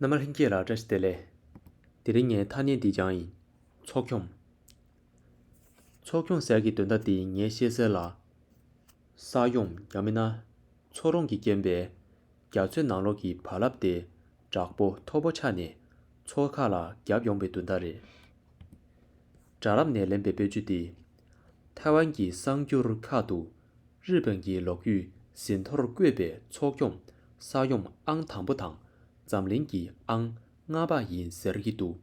རྣམ་མ་ལྷན་སྐྱེས་ལ་བཀྲ་ཤིས་བདེ་ལེགས། དེ་རིང་ངའི་ཐ་སྙད་འདི་སྦྱང་ཡིན། ཚོགས་སྐྱོང། ཚོགས་སྐྱོང་ཟེར་གྱི་དོན་དག་འདི་ངས་ཤེས་གསལ་ལ། ས་ཡོམ་ཡང་མིན་ན། ཚོགས་རོང་གི་རྐྱེན་པས། རྒྱ་མཚོའི་ནང་ལོགས་ཀྱི་བག་ལབ་དེ། དྲག་པོ་མཐོ་པོ་ཆགས་ནས། ཚོགས་ཁག་ལ་བརྒྱབ་ཡོང་པའི་དོན་དག་རེད། དྲ་ལམ་ནས་ལེན་པའི་པོད་བཅུ་སྟེ། ཐའེ་ཝན་གྱི་གསར་འགྱུར་ཁག་ཏུ། རི་པིན་གྱི་ལོགས་བརྒྱུད་ཟིན་ཐོར་བཀོད་པའི་ཚོགས་འཁྱོམ་ས་ཡོམ་ཨང་དང་པོ་དང་འཛམ་གླིང་གི་ཨང་ལྔ་པ་ཡིན་ཟེར་གྱི་འདུག་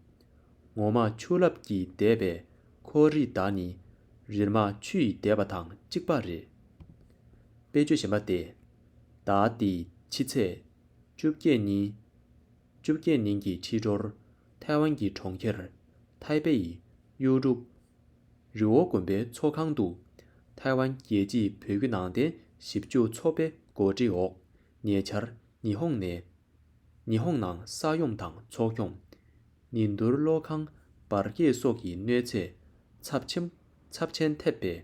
ངོ་མ་ཆུ་རླབས་ཀྱིས་བདས་པའི་ཁོའོ་རི་དཱ་ནི་རིལ་མ་ཆུ་ཡིས་བདས་པ་དང་གཅིག་པ་རེད། དཔེ་བརྗོད་གཞན་པ་སྟེ། ཟླ་འདིའི་ཕྱི་ཚེས་བཅོ་བརྒྱད་ཉིན། བཅོ་བརྒྱད་ནིང་གི་ཕྱི་དྲོར། ཐའེ་ཝན་གྱི་གྲོང་ཁྱེར། ཐའེ་པེ། གཡུ་འབྲུག། རི་བོ་དགོན་པའི་ཚོགས་ཁང་དུ། ཐའེ་ཝན་རྒྱལ་སྤྱིའི་བོད་བརྒྱུད་ནང་བསྟན་ཞིབ་འཇུག་ཚོགས་པའི་གོ་སྒྲིག་འོག་ཉེ་ཆར་ཉི་ཧོང་ནས། ཉི་ཧོང་ནང་ས་ཡོམ་དང་ཚོགས་སྐྱོང། ནི་འདུར་གློག་ཁང་འབར་གས་སོགས་ཀྱི་གནོད་འཚེ་ཚབས་ཆེན་ཚབས་ཆེན་ཐེབས་པའི།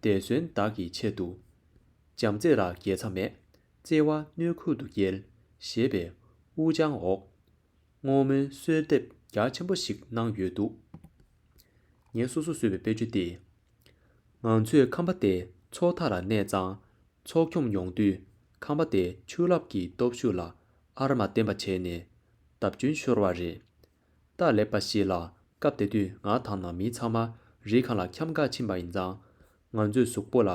འདས་གསོན་བདག་གི་ཆེད་དུ། བྱམས་བརྩེ་ར་རྒྱས་མཚམས་མེད་བརྩེ་བ་སྣོད་ཁུག་ཏུ་བསྐྱལ། ཞེས་པས་དབུ་བརྗང་འོག་བསྔོ་སྨོན་གསོལ་འདེབས་རྒྱ་ཆེན་པོ་ཞིག་གནང་ཡོད་འདུག་ངས་སོ་སོར་བཟོས་པའི་དཔེ་བརྗོད་འདི། ང་ཚོས་ཁམས་པ་དེ་ཚོ་མཐའ་ལ་གནས་གཙང་ཚོགས་འཁྱོམ་ཡོང་དུས་ཁམས་པ་དེ་ཆུ་རླབས་ཀྱི་སྟོབས་ཤུགས་ལ་ཨར་མ་བརྟེན་པ་བྱས་ནས་བརྡབ་སྐྱོན་ཤོར་བ་རེད། སྟག་ལེབ་པ་ཞིག་ལ་སྐབས་དེ་དུས་ང་དང་ནང་མི་ཚང་མ་རི་གང་ལ་འཁྱམས་འགག་ཕྱིན་པ་ཡིན་ཙང། ང་ཚོས་གཟུགས་པོ་ལ་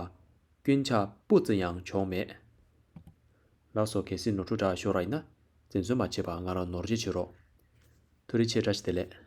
སྐྱོན་ཆ་སྤུ་ཙམ་ཡང་བྱུང་མེད། ལགས་སོ་གལ་སྲིད་ནོར་འཁྲུལ་འདྲ་ཤོར་ར་ཡིན་ན་འཛེམ་ཟོན་མ་བྱེད་པར་ང་ལ་ནོར་རྗེ་བྱེད་རོགས། ཐུགས་རེ་ཆེ་བཀྲ་ཤིས་བདེ་ལེགས།